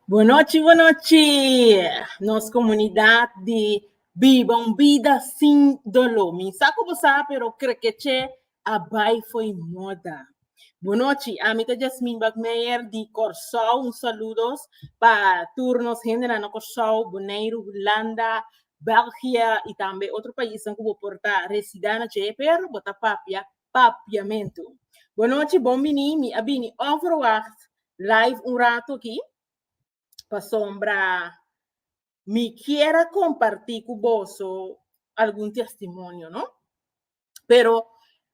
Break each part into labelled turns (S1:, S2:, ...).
S1: Bonochi bonochi nos comunidad di biba un bida sin dolo mi sa cu bo sa pero crekeche a bay foey moda bonochi ami ta Jasmine Bagmeijer di Corsou un saludos pa tur nos hendenan na Corsou, Boneiru, Hulanda, Belgia y tambe otro paisnan cu bo por ta resida na dje pero bo ta papia Papiamentu. Bonochi, bon bini. Mi a bini onverwacht live un rato aki, pasobra mi kier a kompartí ku boso algun testimonio, no? Pero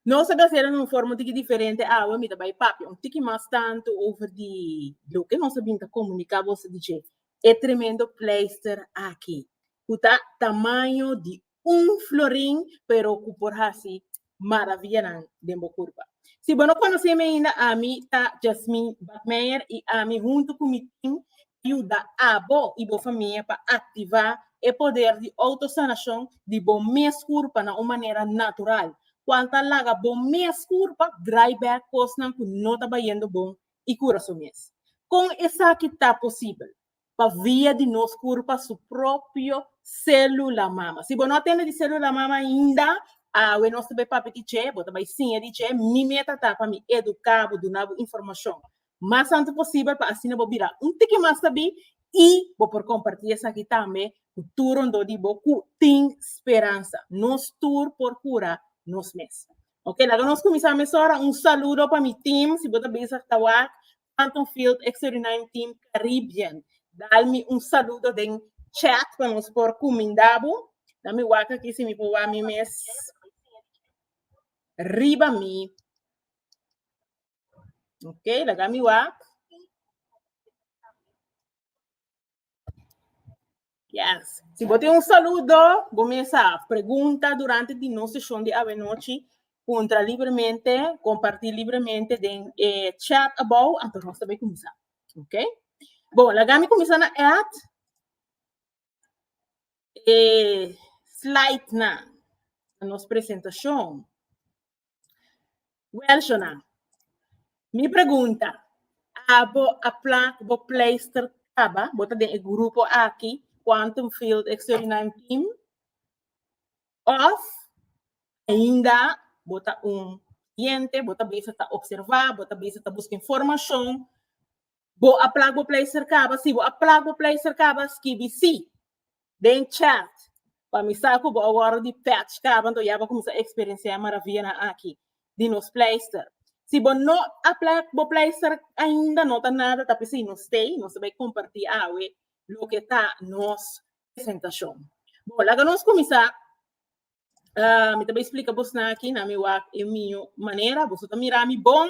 S1: nos a bisa den un forma un tiki diferente awe, mi ta bai papia un tiki mas tantu over di loke nos a bin ta komuniká boso di dje e tremendo pleister aki, ku ta tamaño di Un florin pero cu por haci maravianan den bo curpa. Si bo no conoce mi ainda ami ta Jasmine Bakmeijer y ami hunto cu mi team ta yuda abo y bo famia pa activa e poder di autosanacion di bo mes curpa na un manera natural, cual ta laga bo mes curpa draai back cosnan cu no ta bayendo bon y cura su mes. Con esaki ta posibel? pa via di nos kurpa su propio sélula mama. Si bo no a tende di sélula mama ainda, awe nos ta bai papia di dje, bo ta bai siña di dje. Mi meta ta pa mi eduká bo, duna bo informashon mas antes posibel pa asina bo bira un tiki mas sabí i bo por kompartí esaki tambe ku tur rondó di bo ku tin speransa. Nos tur por kura nos mes. Oke, laga nos kuminsá mesora. Un saludo pa mi tim. Si bo ta besa ta wak Anton Field Extraordinarium Team Caribbean dal mi un saludo den chat pa nos por cuminda bo. Dan mi wak aki si mi por wak mi mes riba mi. Ok, laga mi wak. Yes. Si bo tin un saludo, bo mesa pregunta durante di nos sesión di avenochi. Puntra libremente, comparti libremente den e chat abou anto nos ta bay cuminsa. Ok? Bon, lagami cuminsa na add e slide na nos presentacion. Welshonan, mi pregunta, abo a plan ku bo pleister kaba? Bo ta den e grupo aki, Quantum Field Extraordinarium Team? Of ainda bo ta un kliente, bo ta bisa ta observa, bo ta bisa ta buska informashon Bo a plak bo pleister kaba? Si bo a plak bo pleister kaba, skibi si den chat pa mi sa ku bo a wòrdu di pètsh kaba, anto ya bo a kuminsá eksperensiá e maravianan aki di nos pleister. Si bo no a plak bo pleister ainda, no ta nada, ta p'esei nos stay, nos ta bai kompartí awe loke ta nos presentashon. Bo, laga nos kuminsá. Mi ta bai splika bosnan aki na mi wak e mi manera, boso ta mira mi bon.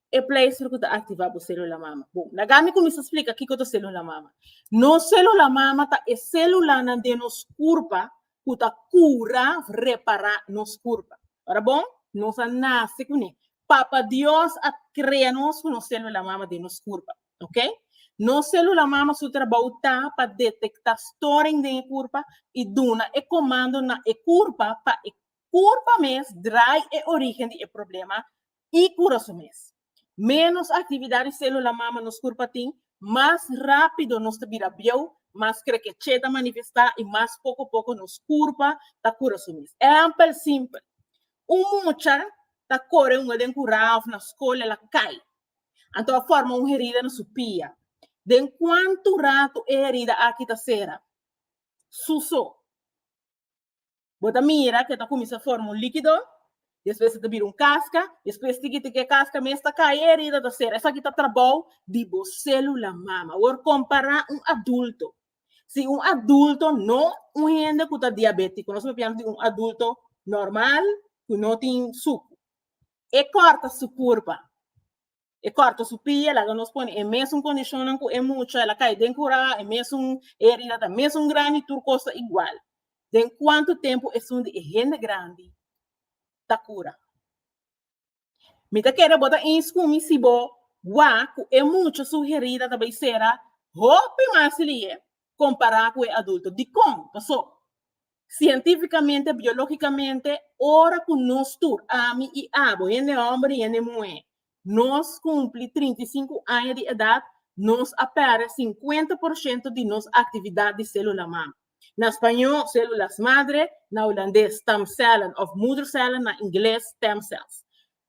S1: e pleister ku ta aktivá bo sélula mama. Bon, laga mi kuminsá splika kiko ta sélula mama. Nos sélula mama ta e sélulanan den nos kurpa ku ta kura, repará nos kurpa. Ora bon, nos a nase kuné. Papa Dios a krea nos ku nos sélula mama den nos kurpa, ok? Nos sélula mama su trabou ta pa detektá storing den e kurpa i duna e komando na e kurpa pa e kurpa mes drai e orígen di e problema i cura su mes. Menos actividad di celula mama nos curpa tin, mas rapido nos ta bira bieu, mas crequeche ta manifesta i mas poco poco nos curpa ta cura su mes. Ehempel simpel, un mucha ta core hunga den curao of na scol el a cay, anto a forma un herida na su pia. Den cuanto rato e herida aki ta cera? Su so. Bo ta mira cu e ta cuminsa forma un liquido, despues e ta bira un casca, despues tiki tiki e casca mes ta cay e herida ta cera. Esaki ta trabou di bo celula mama. Awor compara un adulto. Si un adulto, no un hende cu ta diabetico, nos por piensa di un adulto normal cu no tin sucu. E corta su curpa. E corta su pie, e laga nos pone e mesun condicionnan cu e mucha, el a cay den cura, e mesun e herida ta mesun grandi, tur cos ta igual. Den cuanto tempo esun di e hende grandi ta cura? Mi ta kere bo ta eens cu mi si bo wak cu e mucha su herida ta bay cera hopi mas lihe compara cu e adulto. Dicon? Pasoba Sientífikamente, biológikamente, ora ku nos tur, ami i abo, hende hòmber i hende muhé, nos kumpli trinta i sinku aña di edat, nos a pèrdè sinkuenta por shento di nos aktividat di sélula mam. Na spañó, células madre, na hulandes, stamcellen, òf moedercellen, na ingles, stem cells.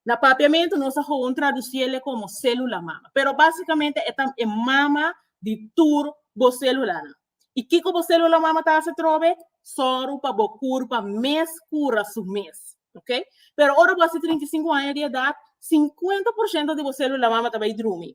S1: Na papiamentu nos a gewoon traduci ele como celula mama, pero basicamente e ta e mama di tur bo celulanan. Y kico bo celula mama ta haci trobe? Soru pa bo curpa mes cura su mes. Ok? Pero ora bo haci trinta y cinco aña di edad, cincuenta por ciento di bo celula mama ta bay drumi.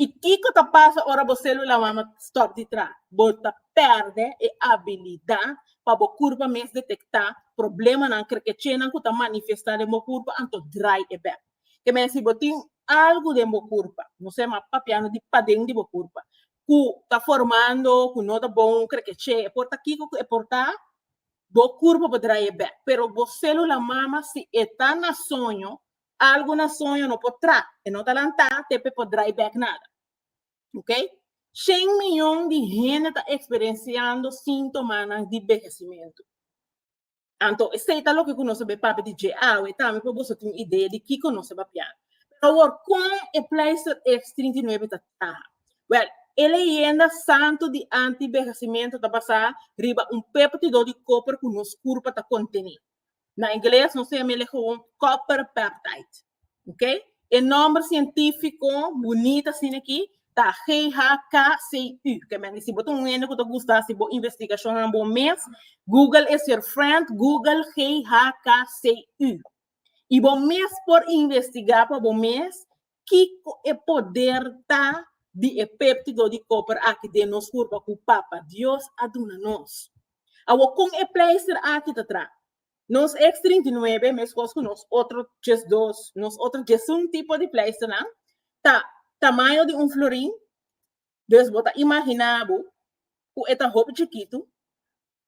S1: I kiko ta pasa ora bo selula wama stòp di tra? Bo ta pèrdè e abilidat pa bo kurpa mes detektá problemanan krekechénan ku ta manifestá den bo kurpa anto drai e bèk. Ke men si bo tin algu den bo kurpa, nos a yama papiando di paden di bo kurpa, ku ta formando ku no ta bon krekechee por ta kiko ku e por ta? Bo kurpa por drai e bèk, pero bo selula mama si e ta na soño Algu na soño no por tra, e no ta lantá te p'e por drai bèk nada. Ok? Shen miyon di hende ta eksperensiando síntomanan di behesimentu. Anto esei ta loke ku nos a bai papia di dje awe tambe pa boso tin un idea di kiko nos ta papia. Pero awor, kon e pleister X39 ta traha? Wèl, e leyenda santu di anti-behesimentu ta basá riba un peptidó di kòper ku nos kurpa ta kontené. Na ingles nos tem ele gewoon copper peptide. Ok? E nombre científico bonita sin aquí ta GHCU. Que men si botan un ene que te gusta si bo investigación en bo mes, Google is your friend, Google GHCU. Y bo mes por investigar pa bo mes Kiko e poder ta di e péptido di kòper akí den nos hurpa ku Papa Dios a duna nos? Awor, kon e pleister akí ta tra? Nos eks trinta i nuebe, meskos ku nos otro djesdos, nos otro djesun tipo di pleisternan, ta tamaño di un florin, dus bo ta imaginá bo ku e ta hopi chikitu.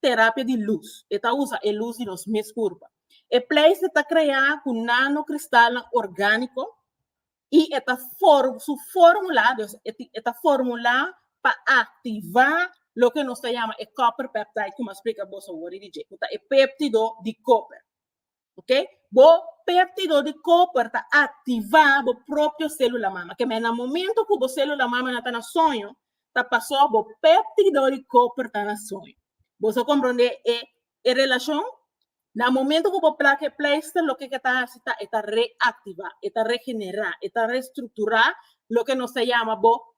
S1: terapia di lus. E ta usa e lus di nos mes kurpa. E pleister ta kreá ku nanokristalnan orgániko i e ta su fórmula, dus e ta fórmula pa aktivá loke nos ta yama e copper peptide ku mi a splika boso wor di dje, ku ta e péptido di koper. Ok? Bo péptido di koper ta aktivá bo propio sélula mama. Kemé na momentu ku bo sélula mama na ta na soño, ta pasó bo péptido di koper ta na soño. Bo sa komprondé e e relashon? Na momentu ku bo plak e pleister, loke ke ta hasi ta e ta reaktivá, e ta regenerá, e ta restrukturá loke nos ta yama bo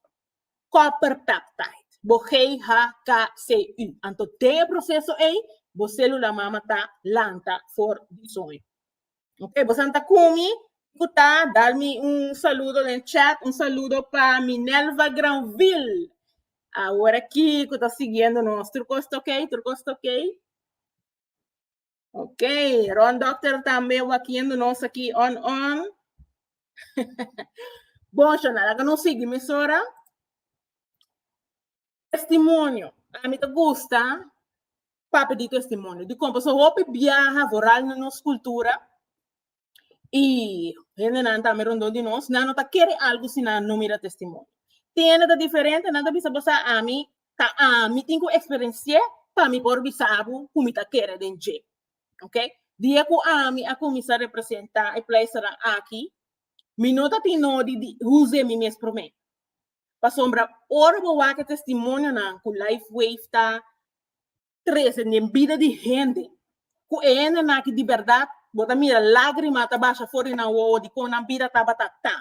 S1: copper peptide, bo GHKCU. Anto den e proceso ey, bo celula mama ta lanta for di soño. Ok, bo santa cumi, cu ta, dal mi un saludo den chat, un saludo pa Minelva Granville, awor aki cu ta siguiendo nos, truco esta ok, truco esta ok. Ok, Ron Doctor tambe wakiendo nos aki on on. bon, Shona, laga no sigui mesora. Testimonio. A mi te gusta papi di testimonio. Di kompa so hopi biaha voral na nos kultura. Y hendenan ta ami rondó di nos, nan no ta kere algu si nan no mira testimonio. Tin hende ta diferente, nan ta bisa bo sa ami, ta ami tin ku eksperensié pa mi por bisa bo ku mi ta kere den dje. Ok, di e ku ami a kuminsá representá e pleisternan aki, mi no ta tin nodi di huze mi mes promé. Pasobra ora bo wak e testimonionan ku Lifeway ta trese den bida di hende ku e hende nan aki di bèrdat bo ta mira lágrima ta basha for di nan wowo di kon nan bida tabata ta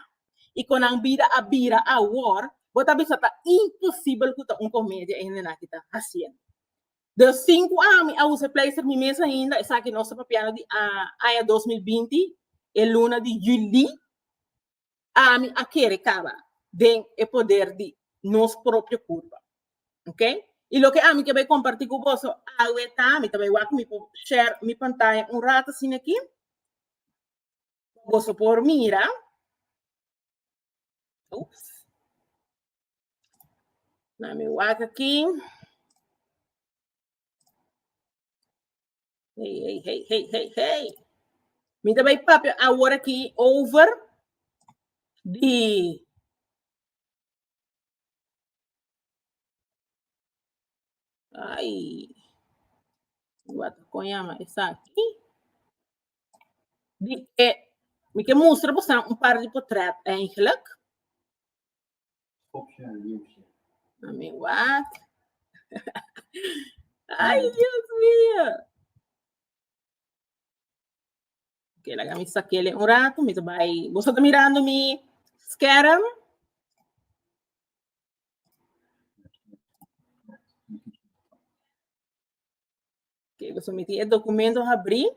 S1: i kon nan bida a bira awor bo ta bisa ta imposibel ku ta un komedia e hende nan aki ta hasiendo. Den sinku aña mi a usa e pleistèr mi mes ainda esaki nos ta papiando di aña dos mil binti e luna di julí ami a kere kaba den e poder di nos propio kurpa. Ok? I loke ami ke bai kompartí ku boso awe ta, mi ta bai wak mi por share mi pantaya un rato asina aki. Boso por mira. Ups. Na mi wak aki. Hey, hey, hey, hey, hey, hey. Mi ta bai papia awor aki over di Ay, wat kon llama esa aquí. Di e, mi ke mustra bosan un par di potret eigenlijk. I mean, what? Ay, Dios mío. Oké, laga mi sakele un rato. Mi bai. Vos está mirando mi scherm? Oké, vos sometí el documento abrí.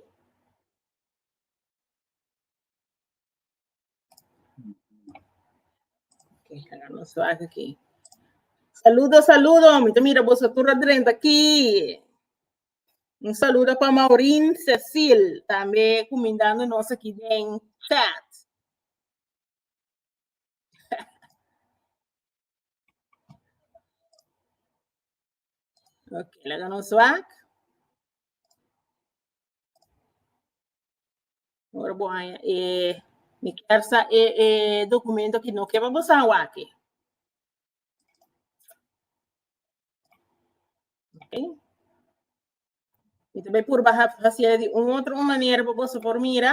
S1: Saludo, saludo, mi ta mira boso tur adrenta aki. Un saludo pa Maurin Cecil, tambe kumindando nos aki den chat. Ok, laga nos wak. Ora bo haya e mi kier sa e e documento ki no keba bo sa waki. Ok. Mi te bay purba ha hacia di un otro un manera bo boso por mira.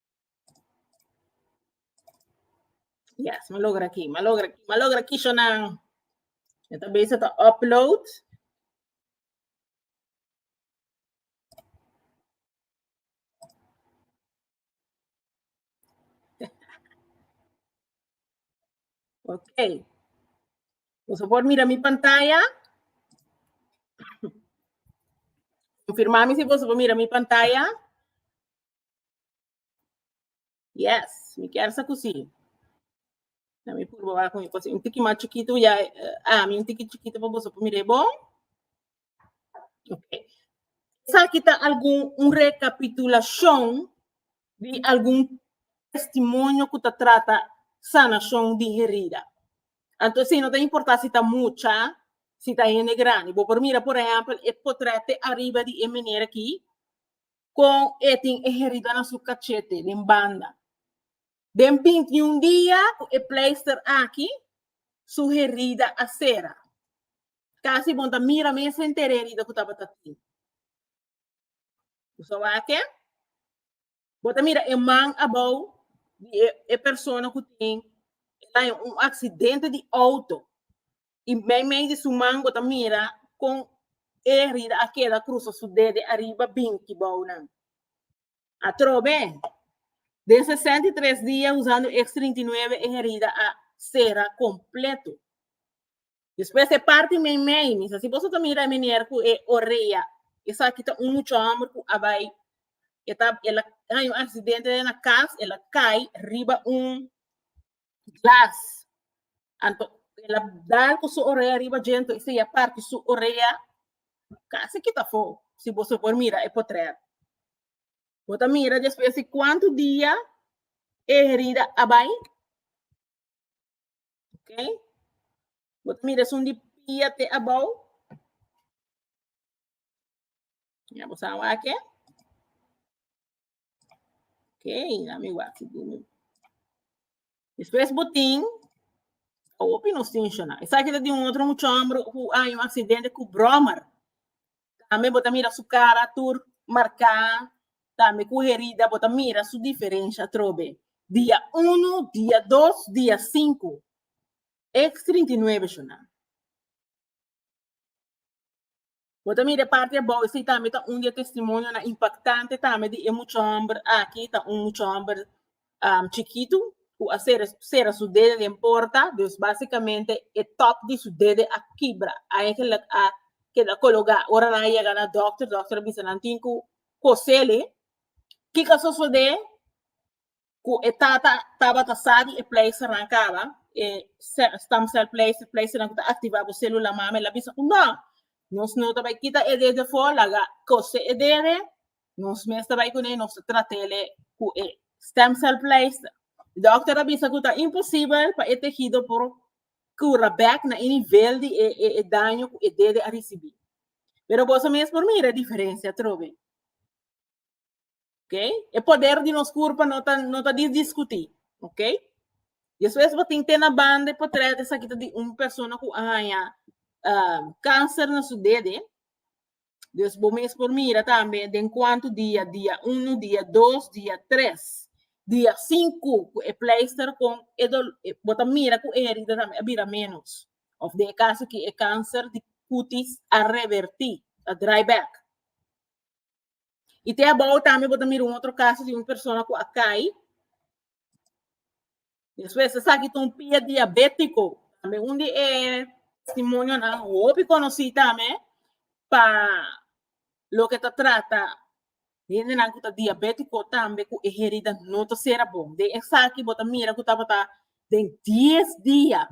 S1: Yes, ma logra aquí, ma logra aquí, ma logra aquí, Shonan. Yo ta bezig te upload. Oké. Por favor, mira mi pantalla. Confirmami si vos mira mi pantalla. Yes, mi kier sa ku si. Na mi purba wak mi pos un tiki mas chikitu ya ah mi un tiki chikitu pa boso pa mire bon. Okay. Sa kita algun un recapitulacion di algun testimonio ku ta trata sanacion di herida. Anto si no ta importa si ta mucha, si ta hende grandi. Bo por mira por ehempel e potrete ariba di e meneer aki. con e tin e herida na su cachete den banda. Den bintiun dia cu e pleister aki, su herida a cera. Casi bon ta mira mes henter e herida cu tabata tin. Cu sa wake? Bo ta mira e man abao di e, e persona cu tin e daño un accidente di auto. y meimei di su man bo ta mira con e herida a keda cruza su dede ariba binti bounan. Atrobe, den 63 dia usando X39 e herida a sera completo. Despues e parti meimei, mi sa si boso ta mira e meneer cu e orea, esaki ta un mucho homber cu a bay, e ta, el a hay un accidente den a cas, el a cay riba un glass. Anto el a dal cu su orea riba djento y sea parti su orea casi kita fo. Si bo so por mira e potret. Bo ta mira despues di cuanto dia e herida a bai. Ok. Bo ta mira esun di pia te abao. Ya bo sa wak e. Ok, dame wak dime. Después botín, opi nos tinshona. Esa que de un otro mucho hombre who hay un accidente cu brommer. También bota mira su cara tur marcada, también cu herida bota mira su diferencia trobe. Día 1, día 2, día 5. X39 shona. Bo ta mira e parti abou, esei tambe ta un di e testimonionan impactante tambe di e mucha hòmber aki, ta un mucha hòmber chikitu ku a sera sera su dede den porta, dus basikamente e tòp di su dede a kibra, eigenlijk a keda kologá. Ora nan a yega na dòkter, dòkter a bisa nan tin ku kosele. Kiko a sosodé? ku e tata tabata sa di e pleistenan kaba, e se- stem cell pleister, pleisternan ku ta aktivá bo sélula mama, el a bisa ku no, nos no ta bai kita e dede afó, laga kose e dede, nos mes ta bai kuné, nos ta trat'é ku e stem cell pleister. E dòkter a bisa ku ta imposibel pa e tehido por kura bèk na e nivel di e e e daño ku e dede a risibí. Pero boso mes por mira e diferensia atrobe. Ok? E poder di nos curpa no ta, no ta discutir. Ok? Después pa tin tena banda e portret esa kita di un persona cu ahaña uh, ah, cáncer na su dede. Dus bo mes por mira también den cuánto dia, dia 1, dia 2, dia 3, dia 5 cu e pleister con e dol, e, bota mira cu e herida también bira menos. Of de caso que e cáncer di cutis a revertir, a dry back. Y te abao tambe bo ta mira un otro caso di un persona cu a cai. Después se saki un pie diabético. Tambe un di e testimonio na hopi conocí tambe pa lo que ta trata hende nan cu ta diabético tambe cu e herida no ta cera bon. De esaki bo ta mira cu tabata den 10 dia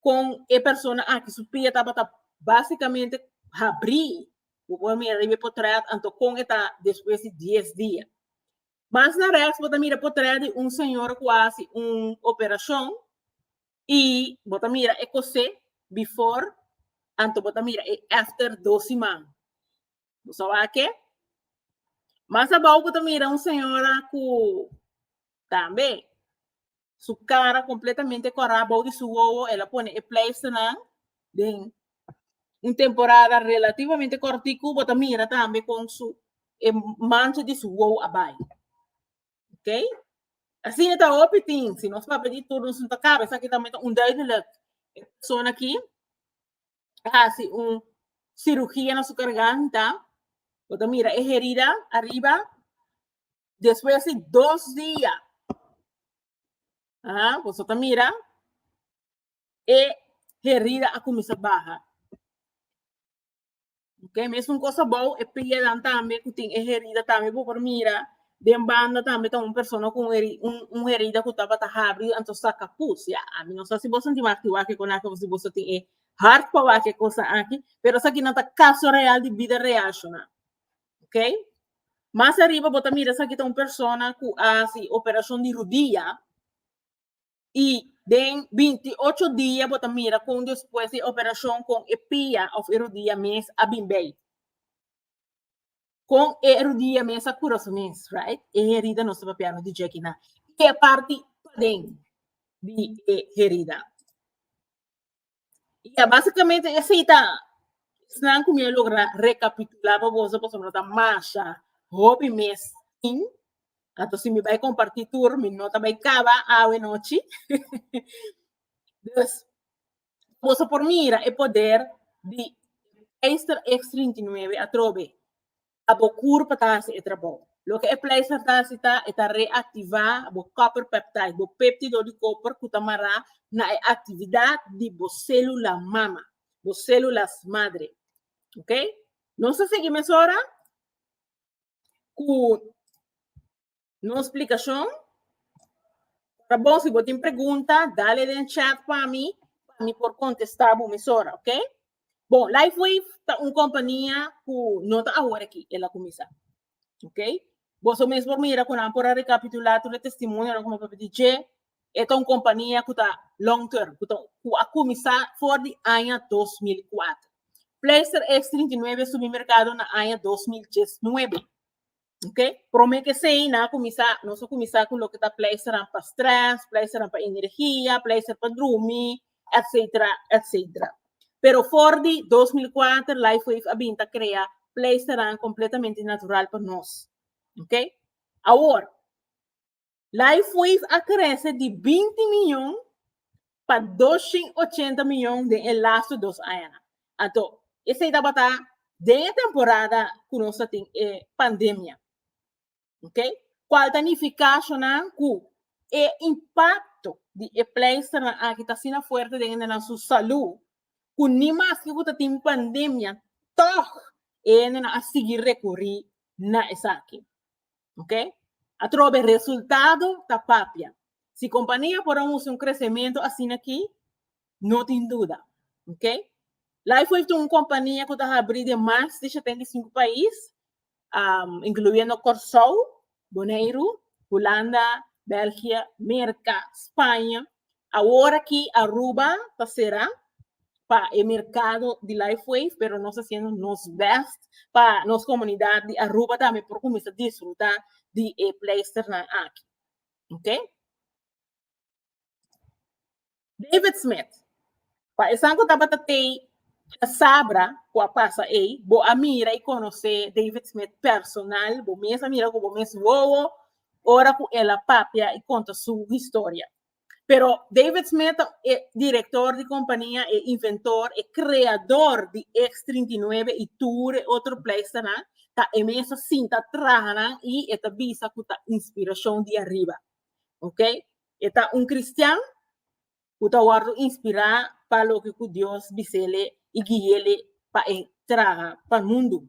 S1: con e persona aki su pia tabata básicamente habrí, bo por mira riba e potret, anto con e ta despues di dies dia. Mas na rechts bo ta mira potret di un señor cu a haci un operacion y bo ta mira e cosé before anto bo ta mira e after dos siman. Bo sa wak ke? Mas abao bo ta mira un señora cu tambe Su cara completamente corá bou di su wowo, el a pone e pleisternan den un temporada relativamente cortico, bo ta mira tambe con su e mancha di su wowo a bai. Ok? Asina ta hopi tin, si nos papia di tur nos no ta caba, esaki tambe ta onduidelijk. E persona aki a haci un cirugía na su garganta, bo ta mira e herida ariba, Despues di dos dia, ah, boso ta mira, e herida a cuminsa baha. Ok, mesmo un cosa bou, e piedan tambe, cu tin e herida tambe, bo por mira, den banda tambe ta un persona con heri- un, un herida cu tabata habri, anto saca pus, ya. A mi no sa si bo sinti aki wak e conaki, of si boso tin e hart pa wak e cosa aki, pero esaki no ta caso real di bida real, shona. ok mas ariba bo ta mira esaki ta un persona cu a haci operacion di rudia y den binti ocho dia bo ta mira con despues di operacion con e pia of e rudia mes a bin bay con e rudia mes a cura su mes right e herida nos ta papiano di djeki nan e parti paden di e herida. Ya básicamente es ahí ta snan ku mi a logra rekapitulá pa boso pasobra no ta masha hopi mes tin. Anto si mi bai kompartí tur mi no ta bai kaba awe nochi. dus boso por mira e poder di Ester X39 atrobe. a bo kur pa ta hasi e trabou. Loke e pleister ta hasi ta e ta reaktivá bo copper peptide, bo péptido di koper ku ta mará na e aktividat di bo sélula mama, bo sélulas madre. Ok? Nos ta sigui mesora ku. No explicacion? Ora bon, si bo tin pregunta, dale den chat pa mi, pa mi por contesta bo mesora, ok? Bon, LifeWave ta un compania cu no ta awor aki, el a cuminsa, ok? Boso mes por mira cu nan por a recapitula tur e testimonionan cu mi papia di dje, e ta un compania cu ta long term, cu ta, cu a cuminsa for di aña dos mil i kuater. Pleister X39 a subi mercado na aña dos mil diesnuebe. Ok, prome kesei nan a kuminsá, nos a kuminsá ku loke ta pleisternan pa strès, pleisternan pa energia, pleister pa drumi, etsetera, etsetera. Pero for di dos mil kuater Lifewave a bin ta krea pleisternan kompletamente natural pa nos. Ok, awor, Lifeways a krese di binti miyon pa doshen ochenta miyon den e lastu dos añanan. Anto, esei tabata den e temporada ku nos ta tin e pandemia. Ok? Kual ta nifiká ashonan ku e impakto di e pleisternan aki ta asina fuerte den hendenan su salú ku ni maske ku ta tin pandemia, tòg e hendenan a sigui rekurí na esaki. Ok? Atrobe resultado ta papia. Si compania por a usa un crecemento asina aquí, no tin duda. Ok? Lifewave ta un compania cu ta habri den mas di 75 pais, um, incluyendo Corsou, Boneiru, Hulanda, Belgia, Merca, Spanje, Awor aki Aruba ta sera pa e merkado di Lifewave, pero nos ta hasiendo nos bèst pa nos komunidat di Aruba tambe por kuminsá disfrutá di e pleisternan aki. Ok. David Smith, Pa esan ku tabata tei Casabra ku a pasa ei, bo a mira i konosé David Smith personal, bo mes a mira ku bo mes wowo ora ku el a papia i konta su historia. Pero David Smith ta e director di compania, e inventor, e creador di X 39 y tur e otro pleister nan, ta e mesa sinta traha nan y e ta bisa cu ta inspiracion di ariba. Ok? E ta un cristian cu ta wordo inspira pa loke cu Dios bisele y guiele pa e traha pa mundo.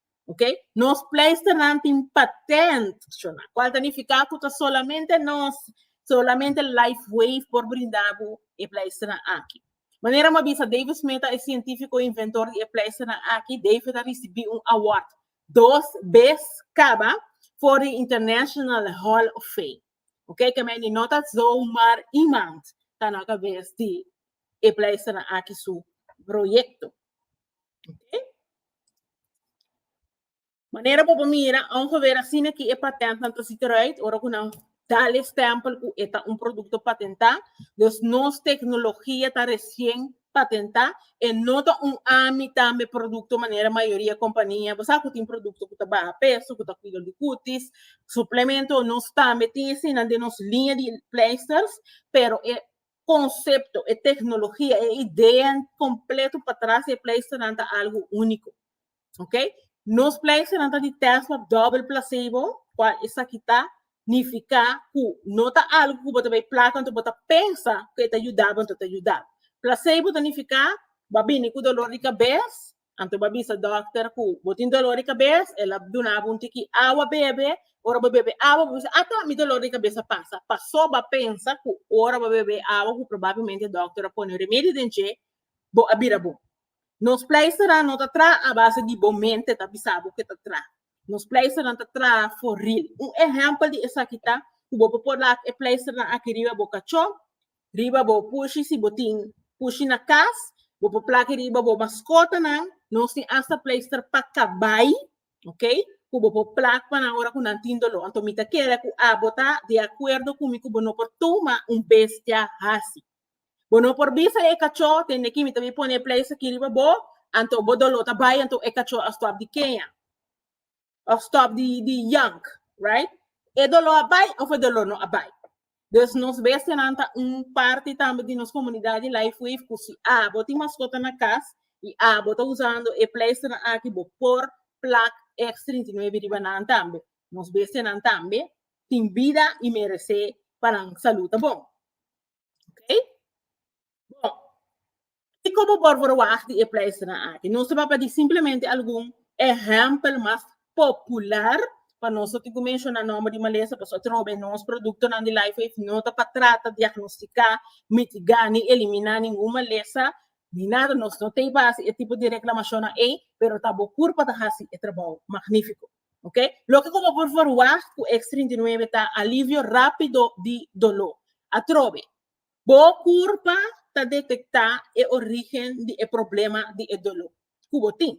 S1: Ok? Nos pleisternan tin patent, shona. Cual ta nifica cu ta solamente nos, solamente LifeWave por brinda bu e pleisternan aki. Manera mo bisa David Smith ta e cientifico inventor di e pleisternan aki, David a ricibi un award dos bes caba for di International Hall of Fame. Ok? Ke meni no ta zomar iemand ta na cabes di e pleisternan aki su proyecto. Manera bo por mira, un hober asina ki e patent nan ta siti right, ora ku nan dal e stempel ku e ta un produkto patentá. Dus nos teknologia ta resien patentá, e no ta un ami tambe produkto manera mayoria kompania. Bo sa ku tin produkto ku ta baha peso, ku ta kuida di kutis, suplemento. Nos tambe tin asina den nos liña di pleisters, pero e konsepto, e teknologia, e idea kompleto patras di e pleisternan ta algu úniko. Ok? Nos pleisternan ta di tèst pa dòbel plasebo, kua esaki ta nifiká ku no ta algu ku bo ta bai plaka anto bo ta pensa ku e ta yuda bo anto ta yuda bo. Plasebo ta nifiká bo a bini ku dolor di kabes, Anto bo a bisa dòkter ku bo tin dolor di kabes, el a duna bo un tiki awa bebe. Ora bo bebe awa bo bisa, Ato mi dolor di kabes a pasa. Pasó bo a pensa ku ora bo a bebe e awa ku probablemente dòkter a pone remedio den dje, bo a bira bon. Nos pleisternan no ta traha a base di bo mente ta bisa bo ku e ta traha. Nos pleisternan ta traha for ril. Un ehèmpel di esaki ta ku bo por laga e pleisternan aki riba bo kachó riba bo pushi si bo tin pushi na kas bo por plaki riba bo maskotanan nos tin asta pleister pa kabai ok ku bo por plak pa nan ora ku nan tin doló anto mi ta kere ku abo ta di akuerdo ku mi ku bo no por tuma un bestia hasi bo no por bisa e kachó tende aki mi ta bin pone e pleister aki riba bo anto bo doló ta bai anto e kachó a stòp di keña. of stop di di yank right e dolor a bai of e dolor no a bai dus nos bestia nan ta un parti tambe di nos comunidad di life wave cu si a bo tin mascota na cas y a bo ta usando e pleister nan aki bo por plak X trinta y nuebe riba nan tambe nos bestia nan tambe tin bida y merece pa nan salud ta bon okay. Bon, y como por verwacht di e pleisternan aki? Nos ta baba di simplemente algun ehempel mas popular, pa nos no tin cu menciona nomber di malesa, pasobra atrobe nos productonan di Life Aid no ta pa trata, diagnostica, mitiga, ni elimina ningun malesa, ni nada, nos no t'ey pa haci e tipo di reclamacionnan ey, pero ta bo cur pa ta haci e trabou magnifico, ok? Loke como por verwacht cu X39 ta alivio rapido di dolor. Atrobe, Bo kurpa ta detektá e orígen di e problema di e doló ku bo tin.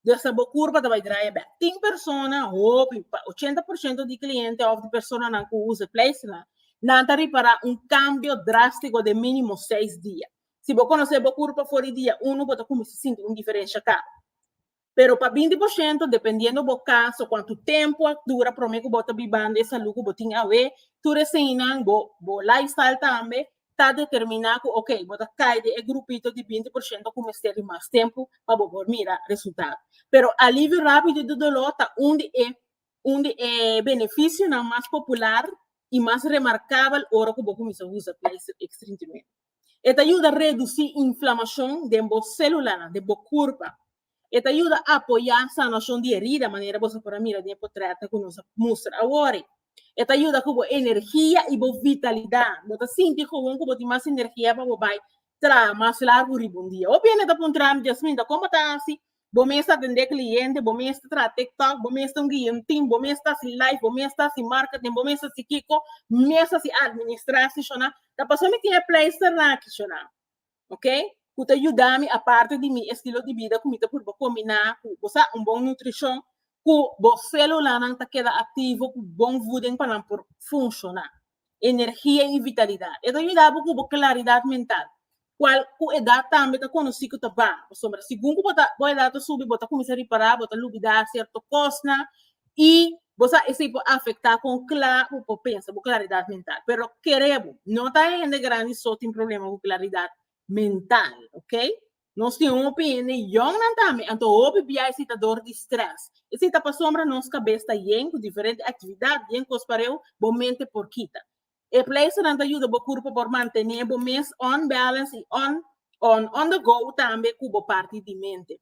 S1: Desa bo kurpa ta bai draia bèk. Tin persona, hopi, pa ochenta por shento di kliente òf di personanan ku usa e pleisternan, nan ta ripará un kambio drástiko den mínimo seis dia. Si bo konosé bo kurpa for di dia unu, bo ta kuminsá sinti un diferensha kla. Pero pa binti por shento, dependiendo bo cas o cuantu tempo a dura prome cu bo ta bibando e salud cu bo tin awe, tur e seinnan, bo bo lifestyle tambe, ta determina cu ok, bo ta cay den e grupito di binti por shento cu mester di mas tempo pa bo por mira resultado. Pero alivio rapido di dolor ta un di e un di e beneficionan mas popular y mas remarcabel ora cu bo cuminsa usa pleister extrinsimente. E ta yuda redusi inflamashon den bo sélulanan, den bo kurpa. E ta yuda apoyá sanashon di erida, manera boso por a mira den e potrètnan ku nos a mustra awor. E ta yuda ku bo energia i bo vitalidat. Bo ta sinti kowon ku bo tin mas energia pa bo bai traha mas largu riba un dia. Hopi hende ta puntra mi, Jasmine, ta kon bo ta hasi Bo mes ta tende cliente, bo mes ta tra TikTok, bo mes ta un guia un team, bo mes ta si live, bo mes ta si marketing, bo mes ta si kiko, mes ta si administratie shona. Ta paso mi tin e pleister naki shona, ok, cu ta yuda mi aparte di mi estilo di bida cu mi ta purba combina cu bo sa un bon nutricion cu bo celulanan ta keda activo cu bon voeding pa nan por funciona. energia i vitalidat. E ta yuda bo ku bo klaridat mental, kual ku edat tambe ta konosí ku ta baha, pasobra segun ku bo ta bo edat ta subi bo ta kuminsá ripará, bo ta lubidá sierto kosnan i bo sa esei por afektá kon kla bo por pensa, bo klaridat mental. Pero kere bo, no ta hende grandi so tin problema ku klaridat mental, ok. Nos tin un opiniónnan tambe, anto hopi biai si ta dor di strès. I si ta pasobra nos kabes ta yen ku diferente aktividat, yen kos pareu, bo mente por kita. E pleisternan ta yuda bo kurpo por mantené bo mes on-balance i on-on-on-the-go tambe ku bo parti di mente.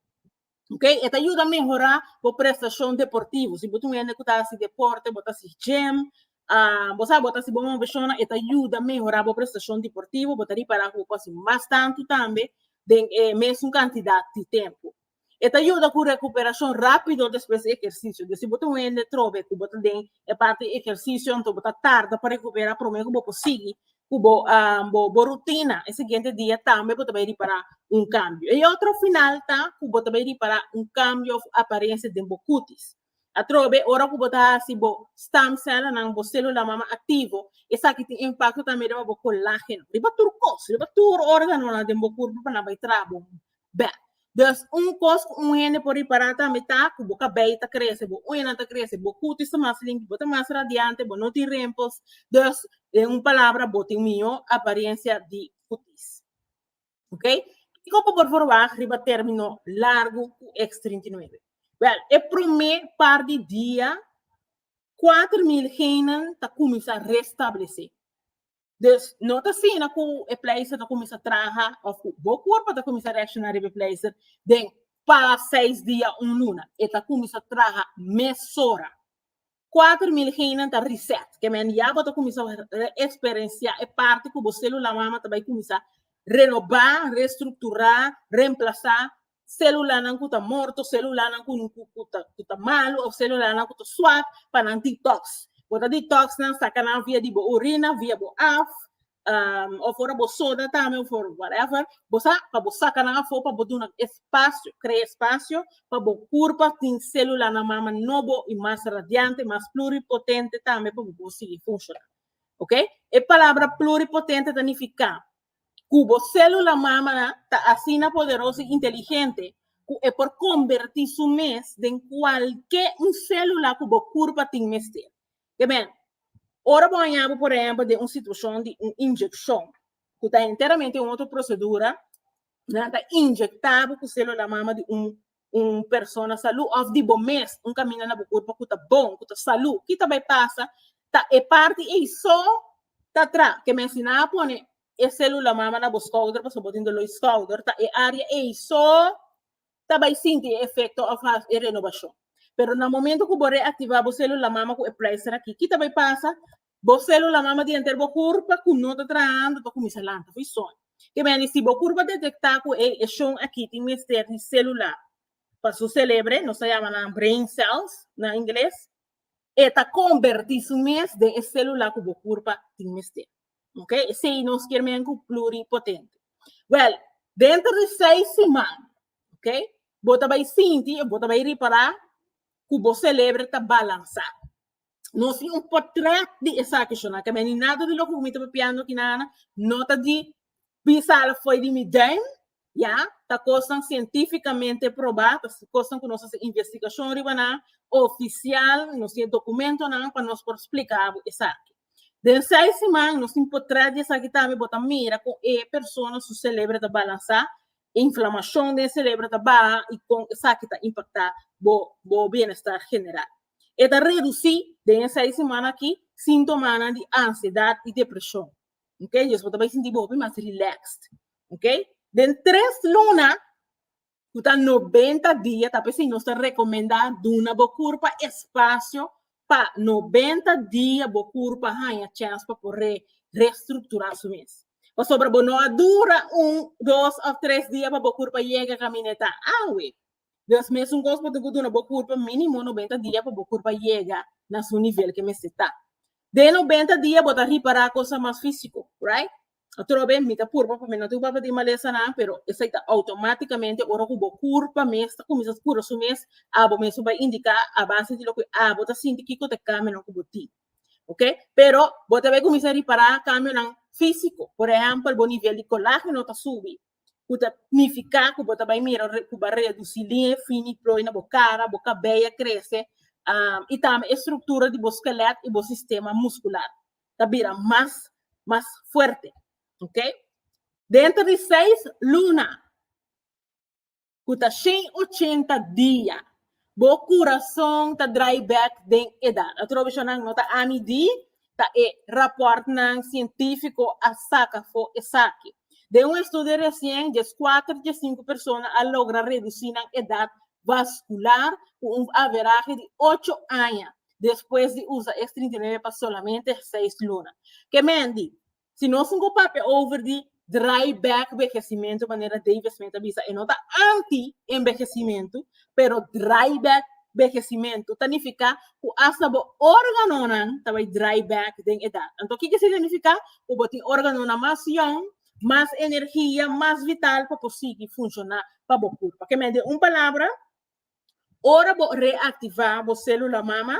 S1: Ok, e ta yuda mehorá bo prestashon deportivo. Si bo ta un hende ku ta hasi deporte, bo ta hasi gym, ah, bo sa bo ta hasi bon moveshonnan, e ta yuda mehorá bo prestashon deportivo, bo ta ripará ku bo por hasi mas tantu tambe den e mesun kantidat di tempu. E ta yuda ku rekuperashon rápido despues di ehersisio. Di si bo ta un hende trobe ku bo ta den e parti ehersisio, anto bo ta tarda pa rekuperá promé ku bo por sigui, cu bo bo bo rutina e siguiente dia tambe bo ta bay ripara un cambio. E otro final ta cu bo ta bay ripara un cambio of aparencia den bo cutis. Atrobe ora cu bo ta hasi bo stem celonan, bo celula mama activo, esaki tin impacto tambe riba bo colageno, riba tur cos, riba tur organonan den bo curpo pa nan bay trabo Beh, dus un kos ku un hende por ripará tambe ta ku bo kabei ta krese, bo uñanan ta krese, bo kutis ta mas limpi, bo ta mas radiante, bo no tin rimpels, dus den un palabra bo tin mihó aparensia di kutis. Ok, kiko ku por forwag riba término largu ku X trinta i nuebe? Bel, e promé par di dia kuater mil heinnan ta kuminsá restablesé. Dus no ta asina ku e pleister ta kuminsá traha òf ku bo kurpa ta kuminsá reakshoná riba e pleister den pa seis dia, un luna. E ta kuminsá traha mesora. Kuater mil heinnan ta reset. Ke mende ya bo ta kuminsá eksperensiá e parti ku bo sélula mama ta bai kuminsá renobá, restrukturá, remplasá celulanan cu ta morto, celulanan cu ta malo of celulanan cu ta swak pa nan detox. Bo ta detox nan, saca nan via di bo orina, via bo af, um, of ora bo soda tambe of ora whatever, bo sa pa bo saca nan afo pa bo duna espacio, crea espacio pa bo curpa tin celulanan mama nobo y mas radiante, mas pluripotente tambe pa bo por sigui funciona. Ok? E palabra pluripotente ta nifica ku bo sélula mámanan ta asina poderoso i inteligente ku e por kombertí su mes den kualke un sélula ku bo kurpa tin mester. Ke men, ora bo hañabu por ehèmpel den un situashon di un injekshon ku ta enteramente un otro prosedura, nan ta injektabu ku sélula mama di un un persona salú òf di bo mes un kaminda na bo kurpa ku ta bon, ku ta salú, ki ta bai pasa ta e parti ei so ta tra ke mensina a pone e sélula mama na bo skouder pasobra bo tin doló di skouder ta e área ei so ta bai sinti e efekto òf e renobashon. Pero na momentu ku bo reaktivá bo sélula mama ku e plèister akí ki ta bai pasa Bo célula mama di enter bo kurpa ku no ta trahando ta kuminsá lanta for di soño. Ke mester di si bo kurpa detektá ku ey e shon aki tin mester di célula pa su selebre, nos ta yama nan brain cells na ingles, e ta kombertí su mes den e célula ku bo kurpa tin mester. Ok, esei nos kier men ku pluripotente. Wèl, denter di seis siman, ok, bo ta bai sinti, bo ta bai ripará ku bo selebre ta balansá. Nos tin un potret di esaki shona. Ka beni nada di loke ku mi ta papiando aki nan, no ta di pisal foi di mi den, ya, ta kosnan sientifikamente probá, ta kosnan ku nos hasi investigashon riba nan, ofisial, nos tin e dokumentonan pa nos por splika bo esaki. Den seis siman nos tin potret di esaki tambe, bo ta mira kon e persona su selebre ta balansá, Inflamacion den cerebro ta baha y con esaki ta impacta bo bienestar general. E ta reduci den e seis semana aki sintomanan di ansiedad y depresion. Djes bo ta bay sinti bo hopi mas relaxed. Den tres luna cu ta noventa dia ta p'esey nos ta recomenda duna bo curpa espacio pa nobenta dia bo kurp a haña chèns pa por re restrukturá su mes. Pasobra bo no a dura un, dos òf tres dia pa bo kurp a yega kaminetá awe. Dios mesun kos por tin ku duna bo kurp mínimo nobenta dia pa bo kurp a yega na su nivel ke mester ta. Den nobenta dia bo ta ripará kosa mas físiko, right? Otro be mi ta purba pa mi no tin papia di malesanan, pero esei ta automáticamente ora ku bo kurpa mes ta kuminsá skura su mes, abo mes su bai indiká a base di loke abo ta sinti kiko ta e kambionan ku bo tin. Ok, pero bo ta bai kuminsá ripará kambionan físiko, por ehèmpel bo nivel di kolágeno ta subi, ku ta nifiká ku bo ta bai mira re- ku bo a redusí liña e fini ploi na bo kara, bo kabei a krese i tambe e struktura di bo skelèt i bo sistema muskular. ta bira mas mas fuerte ok dentro di seis luna cu ta shen ochenta dia bo curason ta dry back den edad atrovechanan no ta ami di ta e rapport nan cientifico a saca fo esaki den un estudio recien dies cuatro dies cinco persona a logra reduci nan edad vascular cu un averahe di ocho aña despues di usa es trinta i nuebe pa solamente seis luna. Ke men di? Si nos tin ku papia over di dry back vehesimentu, manera David Smith a bisa, e no ta anti envehesimentu, pero dry back vehesimentu ta nifiká ku asta bo órganonan ta bai dry back den edat. Anto kiko e signifiká? Ku bo tin órganonan mas yòn, mas energia, mas vital pa por sigui funshoná pa bo kurpa. Ke men di? Un palabra, Ora bo reactiva bo celula mama,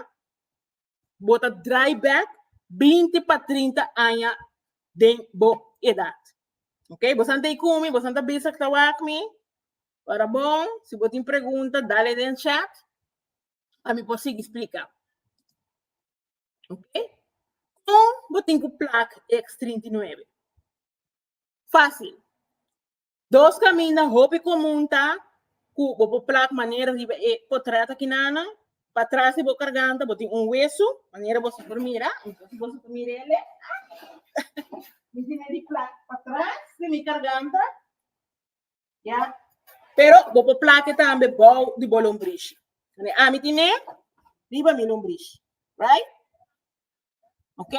S1: bo ta draai back 20 pa 30 aña den bo edad. Ok, bo san tei kumi, bo san ta bisa ku ta wak mi. Ora bon, si bo tin pregunta, dale den chat, pa mi por sigui splika. Ok, kon bo tin ku plak X39? Fácil. Dos kaminda hopi komun ta ku bo por plak manera riba e potrèt aki nannan. Patras di bo karganta bo tin un wesu, manera boso por mira. Entonces boso por mira el'e. Mi tene di plak patras di mi karganta, ya. Pero bo por plak'e tambe bou di bo lombrishi. Ami tin e riba mi lombrishi, right? Ok?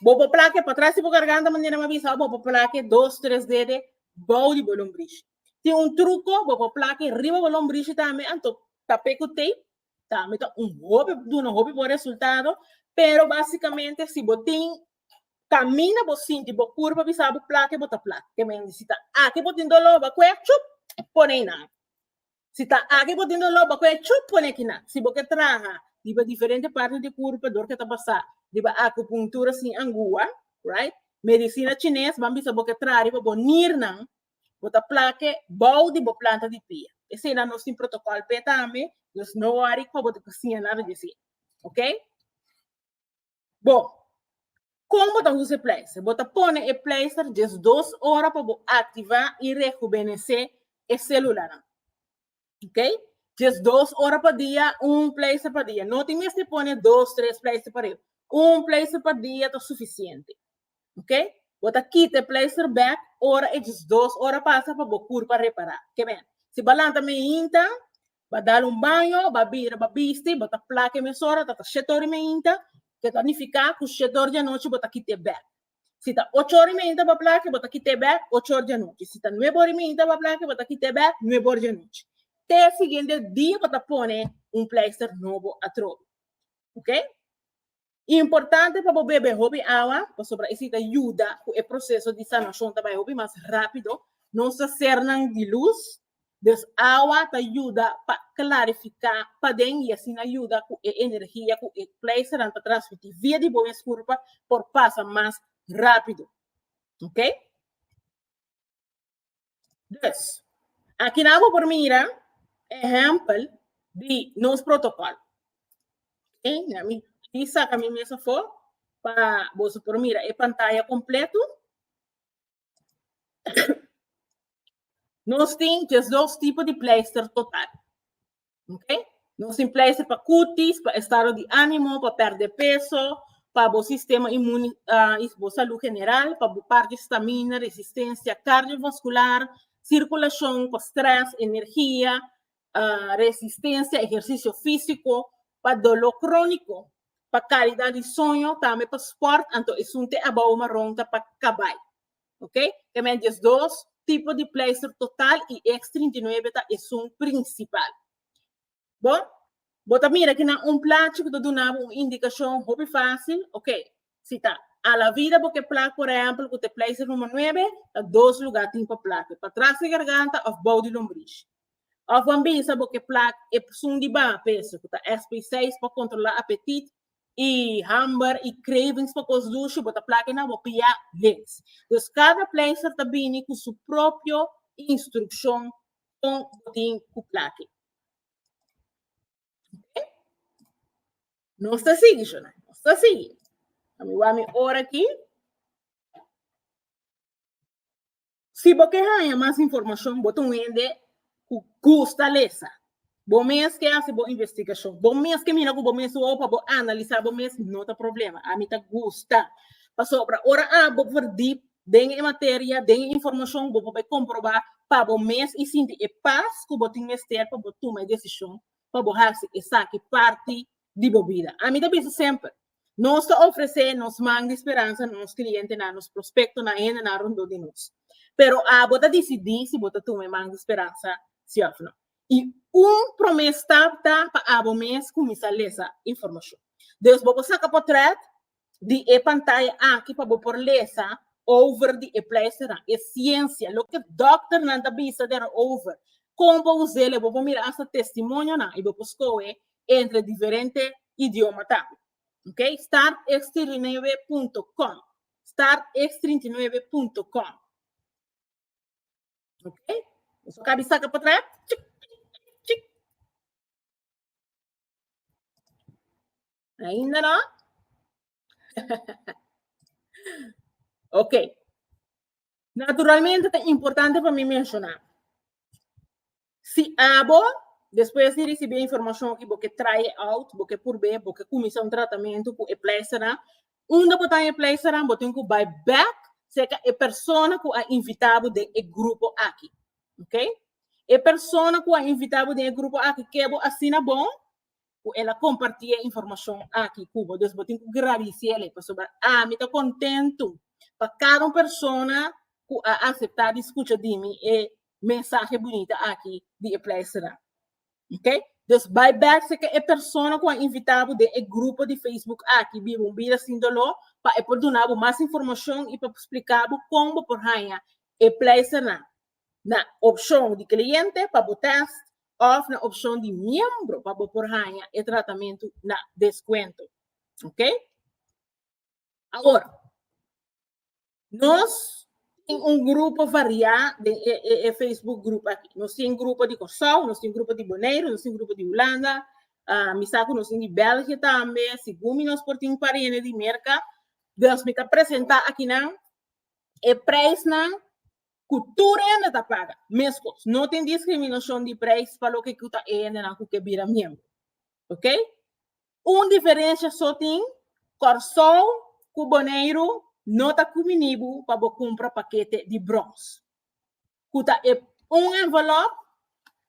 S1: Bobo plake pa tras di bo garganta, manera ma bisa, bobo plake dos, tres dede bou di bo lombrishi. Tin un truco, bobo plake riba bo lombrishi tambe, anto tape cu tape, tambe ta un hopi, duna hopi bon resultado, pero basicamente si bo tin camina bo sinti bo cur pa bisa bo plake, bo ta plake. Te mende si ta aki bo tin dolor, bo a cueha, chup, pone na. Si ta aki bo tin doló, bo koe chup pone kina. Si bo ke traha riba diferente parti di kurpa dor ke ta basá riba akupunktura sin angua, right? Medisina chines ban bisa bo ke traha riba bo nirnan, bo ta plake bou di bo planta di pia. Eseinan nos tin protokòl p'e tambe, dus no wòri kua bo ta kosiña nada di esei. Ok? Bo, kon bo ta usa e pleister? Bo ta pone e pleister djes dos ora pa bo aktivá i rehubenesé e sélulanan. Ok? Djes dos ora pa dia, un pleister pa dia. No tin mester pone dos, tres pleister pa riba. Un pleister pa dia ta sufisiente. Ok? Bo ta kita e pleister bèk ora e djes dos ora pasa pa bo kur pa repará. Ke bèn, si bo a lanta mainta, ba dal un baño, ba bira, ba bisti, bo ta plaka e mesora, ta ta shete ora i meinta, ke ta nifiká ku shete ora di anochi bo ta kita e bèk. Si ta ocho ora i meinta bo plaka, bo ta kita e bèk ocho ora di anochi. Si ta nuebe ora i meinta bo plaka, bo ta kita e bèk nuebe ora di anochi, te siguiente dia bo ta pone un pleister nobo atrobe. Ok? Importante pa bo bebe hopi awa, pasobra esei ta yuda ku e proseso di sanashon ta bai hopi mas rápido. Nos ta sernan di lus, dus awa ta yuda pa klarifiká paden i asina yuda ku e energia ku e pleisternan ta transmití via di bo mes kurpa por pasa mas rápido. Oke. Dus, aki nan bo por mira ehèmpel di nos protokòl. Ok, na mi aki saka mi mes afó pa boso por mira e pantaya kompleto. Nos tin djes dos tipo di pleister total. Okay? No simplemente pa cutis, pa estado di ánimo, pa perder peso, pa bo sistema inmune uh, y bo salud general, pa bo parte estamina, resistencia cardiovascular, circulación, pa stress, energía, uh, resistencia, ejercicio físico, pa dolor crónico, pa calidad di sueño, también pa sport, anto esunte abao marrón ta pa cabai. Ok? Ke men di es dos tipo di pleister total i eks trinta i nuebe ta esun prinsipal. Bon, bo ta mira aki na un plachi ku ta duna bo un indikashon hopi fásil. Ok, si ta a la vida bo ke plak, por ehèmpel, ku ta e pleister número nuebe, ta dos lugá tin pa plak. E pa tras di garganta òf bou di lombrish. Òf bo a bisa bo ke plak esun di baha peso, ku ta SPSeis, pa kontrolá apetit y hamber y cravings pa cos dushi bo ta plaki na bo pia lins. Dus cada pleister ta bini cu su propio instruccion con bo tin cu plaki. Okay? Nos ta sigui, Shona. Nos ta sigui. Ami wou mi ora aquí. Si bo ke haña mas informashon, bo ta un hende ku gusta lesa, bo mes ke hasi bo investigashon, bo mes ke mira ku bo mes wou pa bo analisá bo mes, no ta problema. Ami ta gusta. Pasobra ora abo por dip den e materia, den e informashon, bo por bai komprobá pa bo mes i sinti e pas ku bo tin mester pa bo tuma e desishon pa bo hasi esaki parti di bo bida. Ami ta bisa semper, nos ta ofresé nos man di speransa na nos klientenan, nos prospektonan, hendenan rondó di nos. Pero abo ta disidí si bo ta tuma e man di speransa sí òf nò. I un promé stap ta pa abo mes kuminsá lesa informashon. Dus bo por saka potrèt di e pantaya aki pa bo por lesa over di e pleisternan, e siensia, loke dòkternan ta bisa derover, kon pa us'el, e bo por mira asta testimonionan i bo por skohe entre diferente idioma tambe. Ok, startx39.com, startx39.com. Ok, so ka di saka patrás, chik, chik, chik. Ainda no? ok. Naturalmente es importante para mí mencionar. Si abo, después de recibir información que porque try out, porque purbe, porque comienza un tratamiento con el pleister, Unda bo ta en e pleisaran bo tin ku bai bèk serka e persona ku a invitá bo den e grupo aki. Ok? E persona ku a invitá bo den e grupo aki ke bo asina bon ku el a kompartí e informashon aki ku bo. Dus bo tin ku gradisé alí pasobra ami ta kontentu pa kada un persona ku a aseptá di skucha di mi e mensahe bunita aki di e pleisaran. Ok? Dus bai bèk seke e persona ku a invitá bo den e grupo di Facebook aki, Biba un Bida Sin Doló, pa e por duna bo mas informashon i pa spliká bo kon bo por haña e pleisternan na opshon di kliente pa bo tèst òf na opshon di miembro pa bo por haña e tratamentu na deskuento. Ok? Awor, nos tin un grupo variá den e, e, e Facebook grupo aki. Nos tin grupo di Kòrsou, nos tin grupo di Boneiru, nos tin grupo di Hulanda, uh, mi sa ku nos tin di Bèlgië tambe, sigun mi nos por tin pariente di Merka. Dus mi ta presentá akinan e preisnan ku tur hende ta paga, meskos. No tin diskriminashon di preis pa loke ku ta e hendenan ku ke bira miembro. Ok? Un diferensia so tin, Kòrsou ku Boneiru no ta kumini bo pa bo kumpra pakete di brons, ku ta e un envelòp,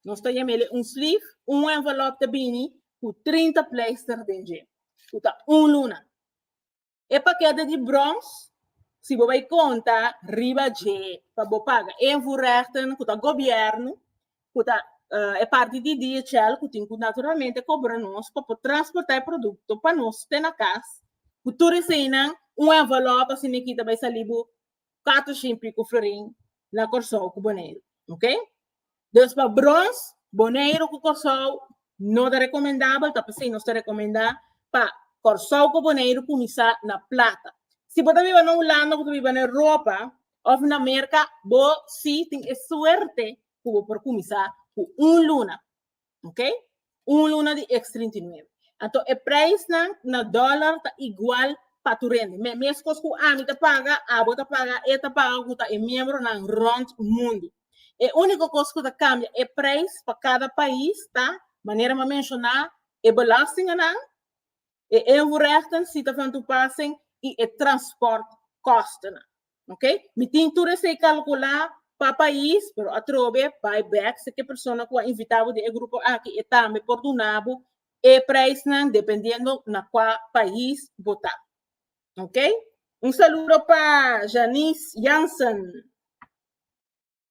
S1: nos ta yama el e un slief, un envelòp ta bini ku trinta pleister den dje, ku ta un luna. E pakete di brons, si bo bai konta riba dje pa bo paga invoerrechten ku ta gobièrnu, ku ta e parti di DHL ku tin ku naturalmente kobra nos pa por transportá e produkto pa nos te na kas ku tur eseinan un envelop asina e kita bai salí bo cuatro shimpi cu florin na Corsou cu Boneiru, ok? Dus pa brons, Boneiru cu Corsou no ta recomendabel, ta p'esei nos ta recomenda pa Corsou cu Boneiru cuminsa na plata. Si bo ta biba na Hulanda, bo ta biba na Europa of na Merca, bo si tin e suerte cu bo por cuminsa cu un luna. Ok? Un luna di ex 39. Anto e prijsnan na dollar ta igual pa tu rende. Me mes kos ku ami ta paga, abo ta paga, e ta paga ku ta e miembronan rond mundo. E úniko kos ku ta kambia e prijs pa kada pais ta, manera mi a menshoná, e belastinganan e invoerrechten si ta van toepassing i e transportkostennan. Oké, mi tin tur esei kalkulá pa pais, pero atrobe bai bèk seki persona ku a invitá bo den e grupo aki e tambe por duna bo e preisnan dependiendo na kua pais bo ta. Oké. Un saludo pa Janice Jansen.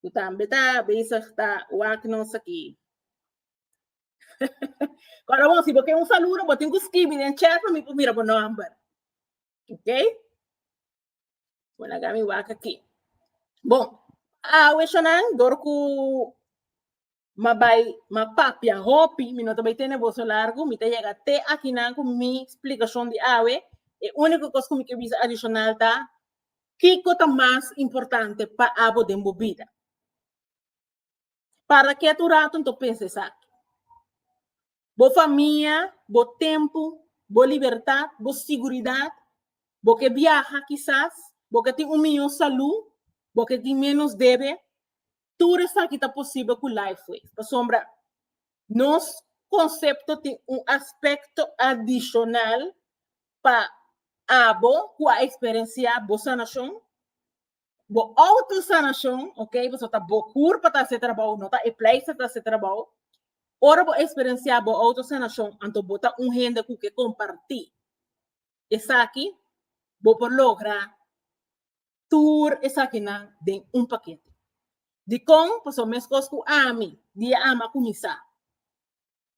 S1: Cu tambe ta bezig ta wak nos aki. Cora bon, si bo ken un saludo, bo tin cu scribi den chat pa mi pa mira bo nomber. Ok? Bueno, agami wak aki. Bon, awe shanan, dor cu Ma bai, ma papia hopi, mi no ta bai tene boso largu, mi ta yega te akinan ku mi splikashon di awe. E úniko kos ku mi ke bisa adishonal ta, Kiko ta mas importante pa abo den bo bida? Para kiet un ratu nta pensa esaki. Bo famia, bo tempu, bo libertat, bo siguridat, bo ke biaha kisas, bo ke tin un mihó salú, bo ke tin ménos debe, Tur esaki ta posibel ku Lifeway, pasobra nos konsepto tin un aspekto adishonal pa abo ku a eksperensiá bo sanashon, bo outosanashon, ok, pasobra ta bo kur pa ta se trabou, no ta e pleisters ta se trabou. Ora bo eksperensiá bo outosanashon, anto bo ta un hende ku ke kompartí esaki, bo por logra tur esakinan den un pakete. Dikon? Pasobra meskos ku ami, di e ama kuminsá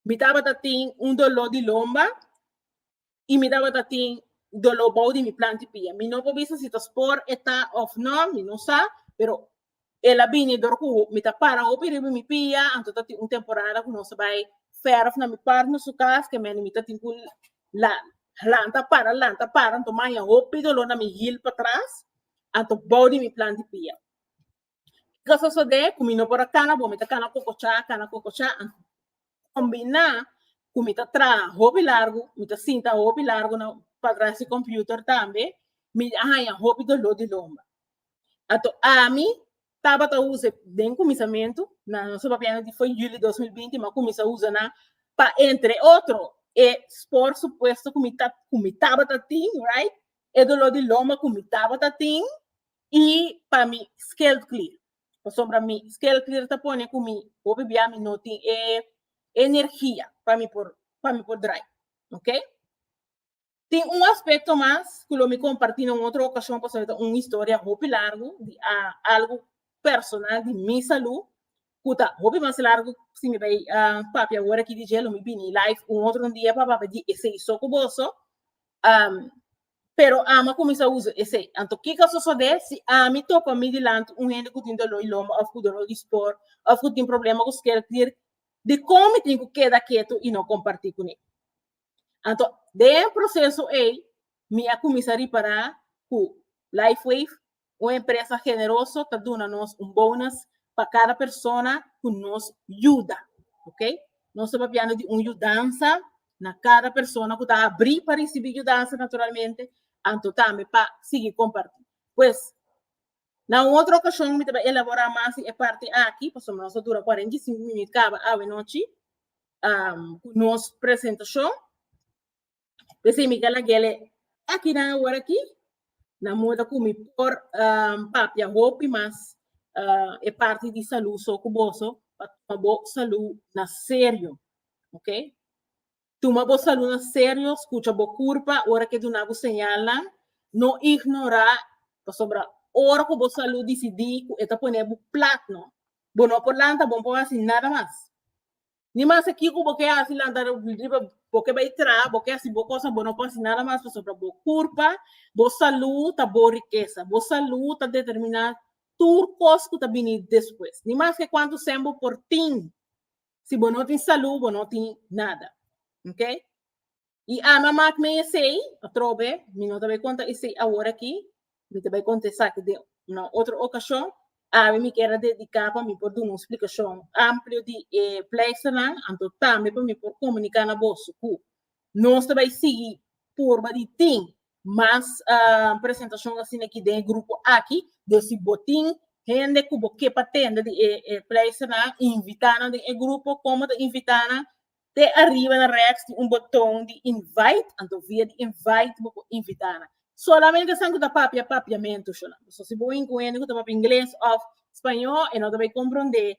S1: mi tabata tin un doló di lomba i mi tabata tin doló bou di mi plantipia. Mi no por bisa si ta spor e ta òf nò, mi no sa, pero El a bini dor ku mi ta para hopi riba mi pia, anto ta tin un temporada ku nos a bai fèrf na mi partner su kas, ke mene mi ta tin ku la- lanta para, lanta para, anto maña hopi doló na mi hil patras, anto bou di mi plan di pia. Ke a sosodé ku mi no por a kana bo, mi ta kana kokochá, kana kokochá, anto kombiná ku mi ta traha hopi largu, mi ta sinta hopi largu na mi patras su kòmpiuter tambe, mi a haña hopi doló di lomba. Ato ami tabata usa e den kuminsamentu na nos papianan di foi yuli dos mil binti mi a kuminsá usa nan pa entre otro e spor supuesto ku mi ta ku mi tabata tin right e doló di loma ku mi tabata tin i pa mi scalp clear pasobra mi scalp clear ta pone ku mi hopi bia mi no tin e energia pa mi por pa mi por dry ok. Tin un aspecto mas cu lo mi comparti na un otro ocasion pasobra ta un historia hopi largu di algo personal di mi salud cu ta hopi mas largu si mi bay papia ahora aki di dje lo mi bini live un otro dia pa papia di esey so cu boso pero ama cuminsa usa esey anto kico a sosode si ami topa mi dilanti un hende cu tin dolor di lomba of cu dolor di spor of cu tin problema cu skerkdir dicon mi tin cu keda keto y no comparti cune Anto, den proseso ei, mi a kuminsá ripará ku LifeWave, un empresa generoso, ta duna nos un bonus pa kada persona ku nos yuda. Ok? Nos ta papiando di un yudansa na kada persona ku ta abrí pa risibí yudansa, naturalmente, anto tambe pa sigui kompartí. Pues, Na un otro ocasion mi ta bai elabora mas di e parti aki, pasobra nos a dura cuarenta y cinco minut caba awe nochi cu nos presentacion. P'esei mi cal a guele akinan awor aki na moda cu mi por papia hopi mas e parti di salud so cu boso pa tuma bo salud na serio, ok. Tuma bo saludnan serio, scucha bo curpa ora cu e duna bo señalnan, no ignora, pasobra ora cu bo salud dicidi cu e ta pone bo plat no, bo no por lanta, bo no por haci nada mas. Ni masa kico bo ke haci lanta riba, bo ke bay traha, bo ke haci bo cosa, bo no por haci nada mas pasobra bo curpa, bo salud ta bo rikesa, bo salud ta determina tur cos cu ta bini despues. Ni mas ke cuantu cen bo por tin, Si bo no tin salú, bo no tin nada. Ok? I Alma mak mi esei, atrobe, mi no ta bai konta esei awor akí, mi ta bai konta esaki den una otro okashon, awe mi ker a dediká pa mi por duna un splikashon amplio di e pleisternan, anto tambe pa mi por komuniká na boso ku nos ta bai sigui purba di tin Mas presentacion asina aki den e grupo aki, den si bo tin hende cu bo ke pa tende di e pleisternan, invita nan den e grupo. Como ta invita nan? Te ariba na rechts tin un boton di invite, anto via di invite bo por invita nan. Solamente esnan cu ta papia Papiamento, Shulamit. So si bo win cu hende cu ta papia Ingles of Spañó e no ta bay compronde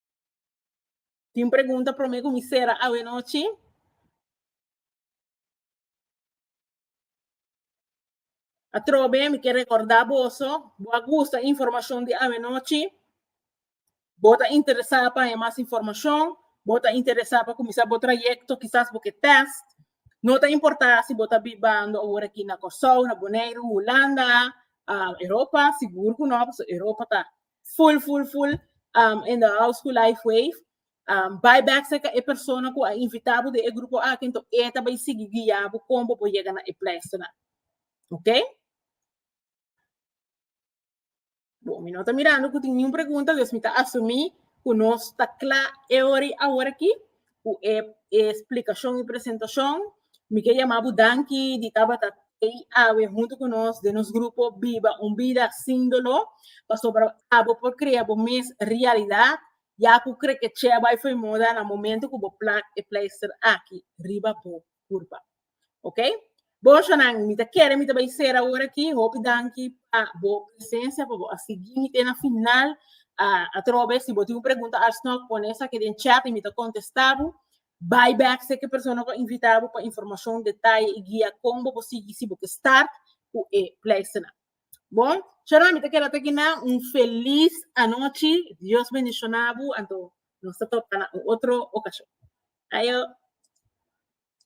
S1: Tin pregunta promé ku mi sera awe nochi? Atrobe mi ke rekordá boso, bo a gusta informashon di awe nochi? Bo ta interesá pa haña mas informashon? Bo ta interesá pa kuminsá bo trayekto, kisas bo ke tèst? No ta importá si bo ta bibando awor aki na Kòrsou, na Boneiru, Hulanda, Europa, sigur ku no, pasobra Europa ta full, full, full um, in the house ku life wave. Um, by back sa e persona ku a invitabo de e grupo a kento eta by sigi guiabo kombo bo yega na e place na. Okay? Bom, mi no ta mirando ku tin niun pregunta, dus mi ta asumi ku nos ta kla eori awor aki. cu e explicacion y presentacion. Mi ke yama bo danki di tabata tei awe hunto cu nos den nos grupo Biba un Bida Sin Dolor, pasobra abo por crea bo mes realidad, ya cu crekeche a bay fo'i muda na momento cu bo plak e pleister aki riba bo. Curpa. Ok? Bochanan, mi ta kere mi ta bay sera ahora aquí. Hopi danki pa bo presencia, pa bo a sigui mi te na final. Uh, atrobe, si bo tiene pregunta alsnog, pone sa que den chat y mi ta contestabo. Bay back se que persona ko invitabo pa información, detalle y guía con bo bo sigui si bo ke start ku e pleistena. Bon, chara mi ta kere te na un feliz anoche. Dios bendicionabo. Anto, nos ta topa na un otro ocasión. Ayo.